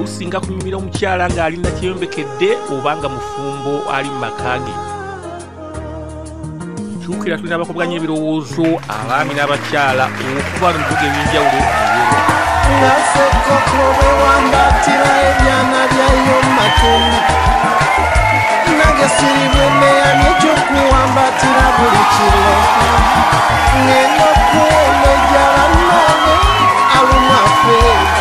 kusinga kunyumira omukyala ng'ali nakyeyombekedde oba nga mufumbo ali mu maka ge kyukira tulina abakubwanya ebirowoozo abaami n'abakyala okuba no bibuga ebyenjawulo ngasekokobewambatira ebyana byayo mumatumbi nange siribwemeyani ekyokuwambatira buli kiro ngenda okuwona ejala nane alumafee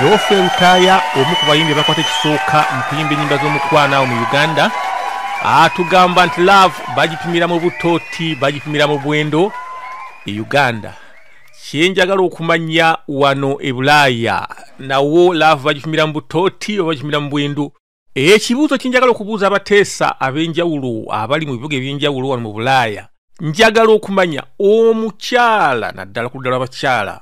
geoffrey lutaaya omu ku bayimbi abakwata ekisooka mu kuyimba ennyimba z'omukwano awo mu uganda atugamba nti love bagipimira mu butooti bagipimira mu bwendo e uganda kyenjagala okumanya wano e bulaaya nawo love bagipimira mu butooti oba bagipimira mu bwendo ekibuuzo kye njagala okubuuza abateesa ab'enjawulo abali mu bibuga eby'enjawulo wano mu bulaaya njagala okumanya omukyala naddala ku ddala abakyala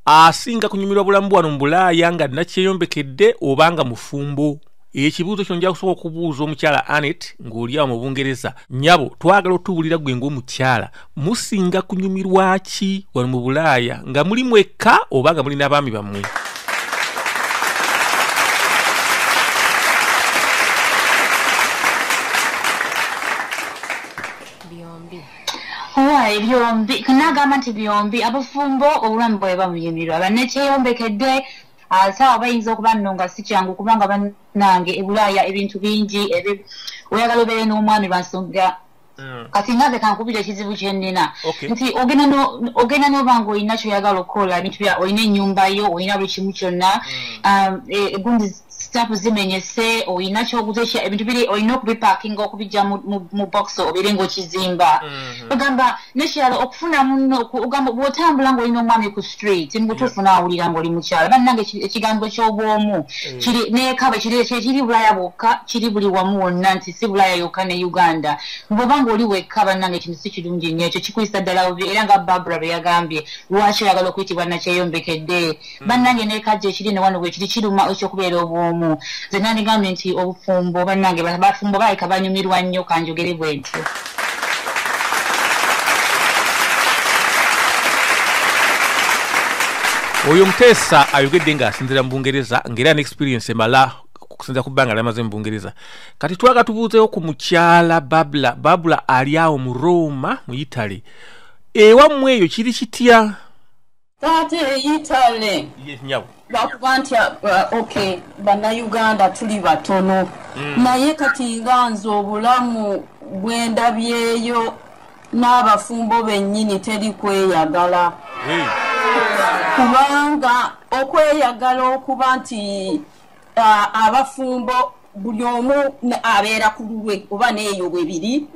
asinga kunyumirwa bulamu bwano mu bulaaya nga nakyeyombekedde oba nga mufumbo ekibuuzo kino nja kusobola okubuuza omukyala anet ng'olyawo mu bungereza nyabo twagala otubuulira gwe ng'omukyala musinga kunyumirwa ki wano mu bulaaya nga muli mwekka oba nga muli n'abaami bammwe owaye byombi nagamba nti byombi abafumbo obulamu bwabe babuyimirwa banekyeyombekedde ah, saawa bayinza okuba nno nga si kyangu kubanga banange ebulaaya ebintu bingi oyagala obeere n'omwami bansonga Mm. kati nga nze kankubira ekizibu kyenina nti ogenda noba nga olina kyoyagala okukola ebintu bya olina enyumba yo olina buli kimu kyonna mm. um, e, egundi sitapu zimenyese olina kyoguza ekya ebintu biri olina okubipakinga okubijja mu box obere ngaokizimba mm-hmm. ogamba nekirala okufuna muno ogamba bwotambula nga olina omwami ku street mubutuufu yeah. nawulira ngaoli mukyala bannange ekigambo kyobwomu mm. kiri nekaba kiri bulaya bwokka kiri buli wamu wonna nti si bulaya yokka ne uganda bwoba ngaoli wekka bannange ekintu si kirungi nnyo ekyo kikuyisa ddala obi era nga barbara bwe yagambye lwaki oyagala okuyitibwa nakyeyombekedde mm. bannange nekajja ekiri ne wano bwekiri kiruma ekyokubeera obwomu ze nandigambye nti obufumbo bannange bafumbo baleka banyumirwa nnyo kanjogere bwentyo oyo omuteesa ayogedde nga asinzira mu bungereza ngaera ne experience emala okusinzira ku bbanga lyamaze mu bungereza kati twaga tubuuzeewo ku mukyala babula babula ali awo mu roma mu italy ewammwe eyo kiri kitya taata eyitale nyabo lwakuba nti uh, ok bannayuganda tuli batono mm. naye kati nga nze obulamu bwendabyeyo n'abafumbo bennyini teri kweyagala kubanga okweyagala okuba nti abafumbo buli omu abeera ku lulwe oba neeyo bwebiri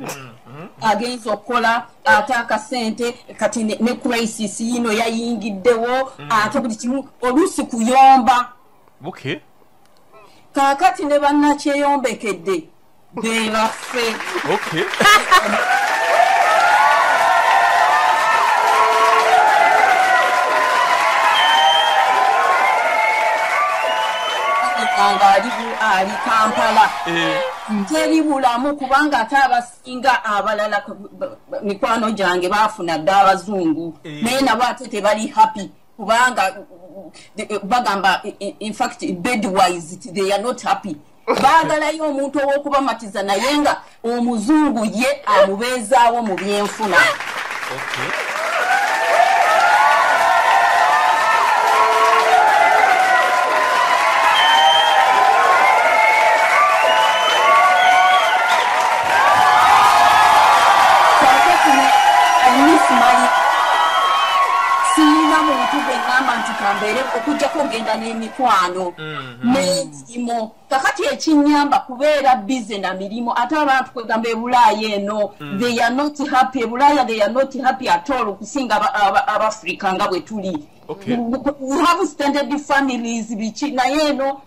agenza okukola ate akasente kati ne crisis yino yayingiddewo mm. ate buli kimu oluusi kuyomba kakati ne bannakyeyombekedde Gwe baffe. Okay. nga ali ali kampala eh. teri bulamu kubanga ate abasinga abalala mikwano gyange baafuna dda abazungu eh. naye nabo ate tebali happy kubanga eh, bagamba infact bedwise they are not happy baagalayo omuntu ow'okubamatiza naye nga omuzungu ye amubeezaawo mu byenfuna siyina muntu gwe ŋamba nti kambeere okujjako ogenda n'emikwano mm-hmm. mirimu kakati ekinyamba kubeera bize na mirimu ate abantu kwegamba ebulaaya eno mm. they are not happy ebulaaya they are not happy at all okusinga abafrica nga bwe tuli Okay. We have standard families biki naye eno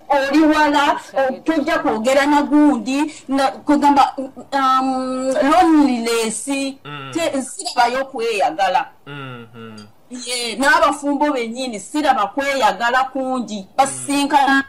oli wala tojja kwogera na gundi kwegamba um, loneliness mm. sirabayo okweyagala mm-hmm. n'abafumbo bennyini siraba kweyagala kungi basisinkana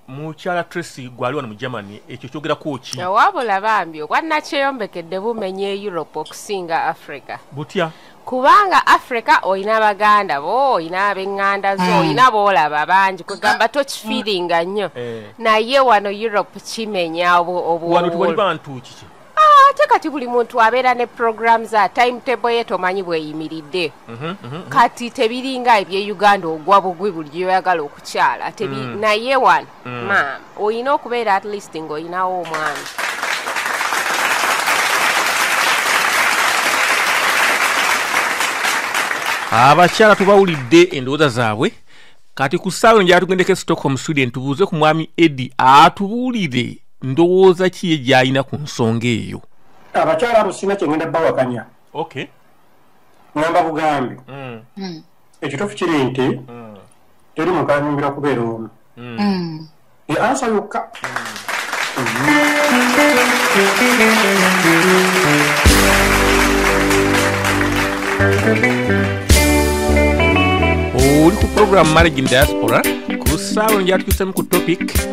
mukyala tracy gwali wano mu germany ekyo kyogerako ki wabula bambi obwanakyeyombekedde bumenya e europe okusinga africa butya kubanga africa olina baganda bo olina abenganda zo mm. olina boolaba bangi kwegamba mm. tokifiiringa nnyo eh. naye wano europe kimenya obuwano tewali bantu kiki Ah, ate kati buli muntu abeera ne program za timetable ye tomanyi bweyimiridde mhm, mhm, mhm. kati tebiringa ebye uganda ogwa bugwi buli gyoyagala okukyala mm. naye wano mm. maama olina okubeera at least ngaolinawo omwami abakyala tubawulidde endowooza zaabwe kati ku ssaawa enjala tugendeko e stockholm sweden tubuuze ku mwami eddi atubuulire ndowooza ki ye gy'alina ku nsonga eyo abakyala abo sirina kyengenda bawakanya okay ngamba bugambi mm. mm. ekituufu kiri nti mm. teri muntu anyumbira kubeera omu ye ansa yokka oli ku programu marriage in diaspora ku saawa ngyatutusemu ku topic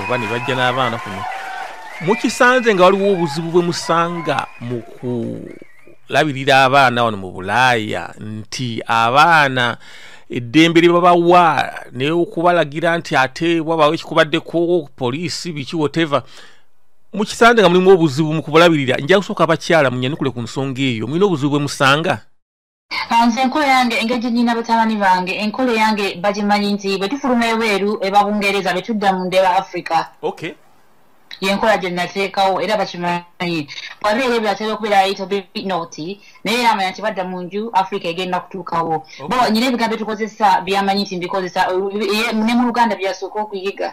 oba ne bajja n'abaana kuno mukisanze nga waliwo obuzibu bwe musanga mu kulabirira abaana wano mu bulaaya nti abaana eddembe lye babawa naye okubalagira nti ate wabawo ekikubaddeko poliisi biki woteva mukisanze nga mulimu obuzibu mu kubulabirira nja kusooka abakyala munyanukule ku nsonga eyo mulina obuzibu bwe musanga nze enkola yange engeri gye nyina batabani bange enkola eyange bagimanyi nti bwe tufuluma ebweru eba bungereza be tudda mu ndeba africa okay yenkola gye nateekawo era bakimanyi wabeera ebyo atera okubeera ayita binoti naye era amanya nti badda mu nju africa egenda kutuukawo bo nyina ebigambo byetukozesa byamanyi nti mbikozesa ne mu luganda byasooka okuyiga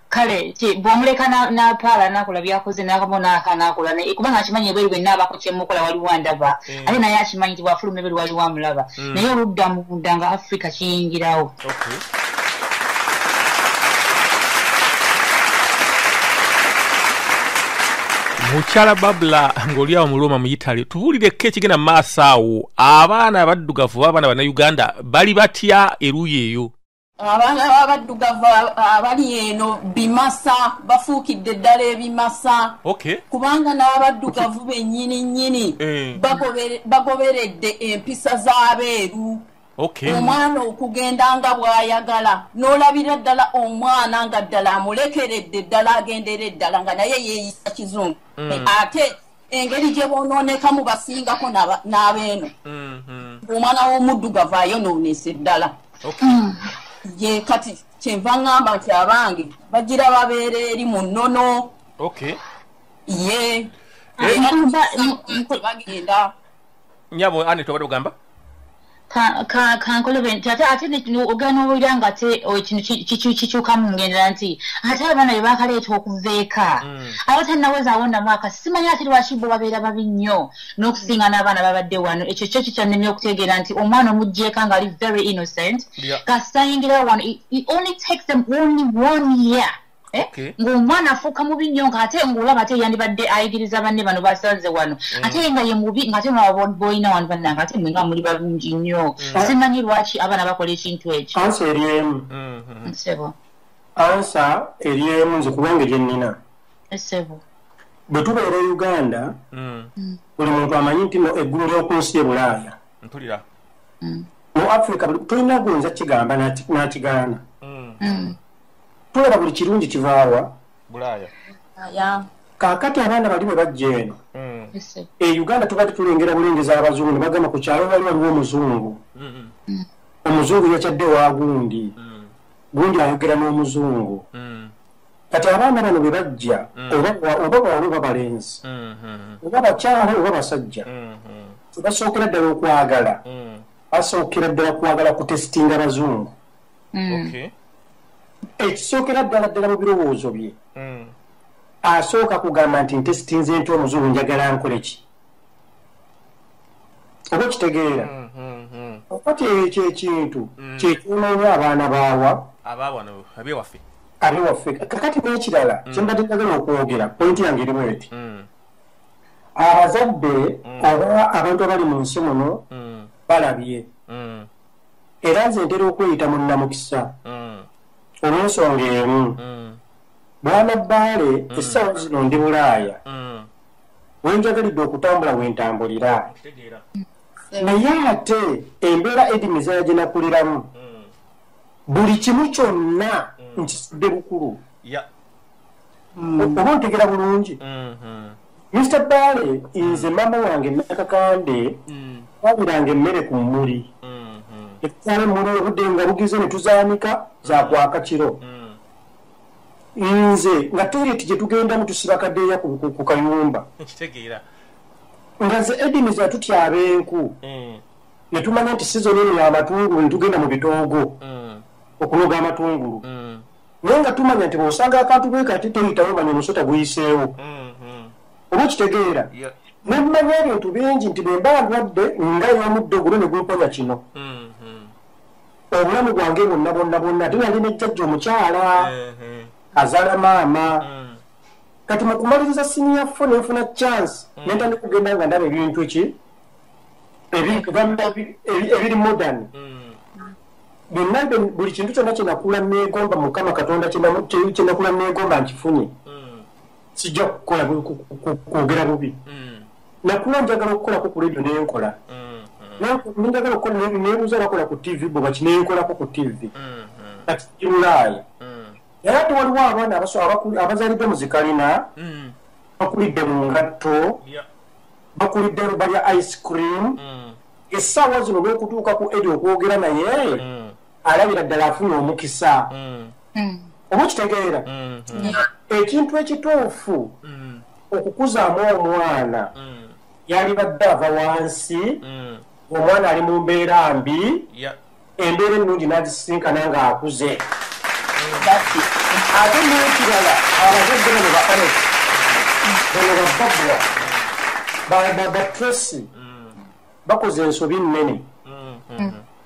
kale bwomuleka napaala nakola byakoze nakamu naka nakola naye kubanga akimanyi eberi bwenna abako kyemukola waliwo andaba mm. ate naye akimanyi ti bwafuluma eberi waliwo amulaba mm. naye oludda munda nga afrika kiyingirawo mukyala babula ngaoli awo muluuma mu italy tubuulireko ekigenda mu maaso awo abaana abaddugavu oba abaana bannayuganda bali batya eruuyi eyo abaana babaddugavu abali eno bimasa bafuukidde ddala ebimasa kubanga n'abaddugavu bennyini nnyini eh. bagoberedde empisa z'abeeru omwana okugenda nga bw'ayagala n'olabira ddala omwana nga ddala amulekeredde ddala agendera eddala nga naye yeeyisa kizungu mm. ate engeri gye bonoonekamu basingako n'abeeno mm-hmm. omwana w'omuddugavu ayonoonese ddala mm. ye kati kyenva ŋŋamba nti abange bagira babeera eri mu nnono ye eh, bagenda nyabo ani tobadde ogamba kankolobe nti ate ate ogenda owulira nga ate ekintu kikyukamu ngendera nti ate abaana be bakaleeta okuva eka mm. aba tannaweza awonda mwaka simanyi ate lwaki bo babeera babi nnyo n'okusinga n'abaana babadde wano ekyo kyo kikyannemye okutegeera nti omwana omuggyeka ng'ali very innocent kasitayingirawo wano only takes them only one year Eh? Okay. ng'omwana afuuka mubi nnyo ng'ate ng'olaba ate yandibadde ayigiriza banne bano basanze wano mm. ate nga ye mubi ng'ate nabolina wano bannange ate mwenga muli balungi nnyo mm. simanyi lwaki abaana bakola ekintu ekyo ansa eri emu mm-hmm. nsebo ansa eri emu nze kubanga egye nnina esebo bwe tubeera e uganda mm. buli muntu amanyi nti no eggulu ly'oku nsi e bulaaya mpulira mu africa tulina gunza kigamba n'akigaana tulaba buli kirungi kivaawa bulaaya kakati abaana bali bwe bajja eno mm. e uganda tubadde tulengera bulengeza abazungu nebagamba ku kyalo wali waliwo omuzungu mm-hmm. mm. omuzungu yakyadde wa gundi mm. gundi ayogera n'omuzungu kati abaana bano bwe bajja oba bwalo oba balenzi mm-hmm. oba bakyalo oba basajja mm-hmm. tebasookera ddala okwagala basookera ddala kwagala kutesitinga bazungu mm. ekisookera ddala ddala mu birowoozo bye mm. asooka kugamba nti nte sitinze nti omuzungu njagala nkole ki oba okitegeera mm, mm, mm. okati ekyo ekintu kyekyonoonya abaana baawa abe waffe kakati n'ekirala kyembadde njagala okwogera pointi yange erimu eti abazadde oba abantu abali mu nsi muno balabye era nze ntera okweyita munnamukisa mm. olwensonga emu mm. bwana bbaale mm. essaawa zino ndi bulaaya wenjagalidde okutambula wentambulira naye ate embeera edimizaya gye nakuliramu buli kimu kyonna nkisudde bukulu mm. oba ontegera bulungi mm-hmm. mr bale nze mm. mama wange nakakande mm. wabiranga emmere ku mmuli mm-hmm. ekutwala emmuli obudde nga bugize ne tuzaanika zakwaka kiro nze nga toyireti gye tugendamu tusiba kadeeya ku kayumba nga ze edini zatutya ab'enku ne tumanya nti sizoni eno yamatungulu ne tugenda mu bitoogo okunoga amatungulu naye nga tumanya nti bwosanga akantu bwe kati toyitawo manya omusota guyiseewo mm-hmm. oba okitegeera nemmanya ebintu bingi nti bwemba ndwadde nga yomudde ogulo ne gumponya kino mm-hmm. obulamu bwange bwonna bwonna bwonna ate nali nejjajja omukyala mm-hmm. azaala maama mm. kati mu kumaliriza siniya fo nenfuna chance mm. nentandi kugenda nga ndaba ebintu ki ebiri modern mm. byonna buli kintu kyonna kyenakula negomba mukama katonda kyenakula negomba nkifunye mm. sijja kukola kwogera bubi mm. nakula njagala okukolako ku radio nenkola mm-hmm. njagala okukola nebuza bakola ku tv bwebaki nenkolako ku tv mm-hmm. kati kirulaaya mm. era ate waliwo abaana abazalidde mu zikalina bakulidde mu ngatto bakulidde lubalya ice cream essaawa zino olwokutuuka ku edi okwogera naye mm. alabira ddala afuna omukisa mm. mm. oba okitegeera ekintu ekituufu okukuzaamu omwana yalibadde ava wansi omwana ali mu mbeera mbi embeera ennungi n'agisisinkana ng'akuze ate n'ekirala abazadde bano ba onet bano bababwa babatresi bakoze ensobi nnene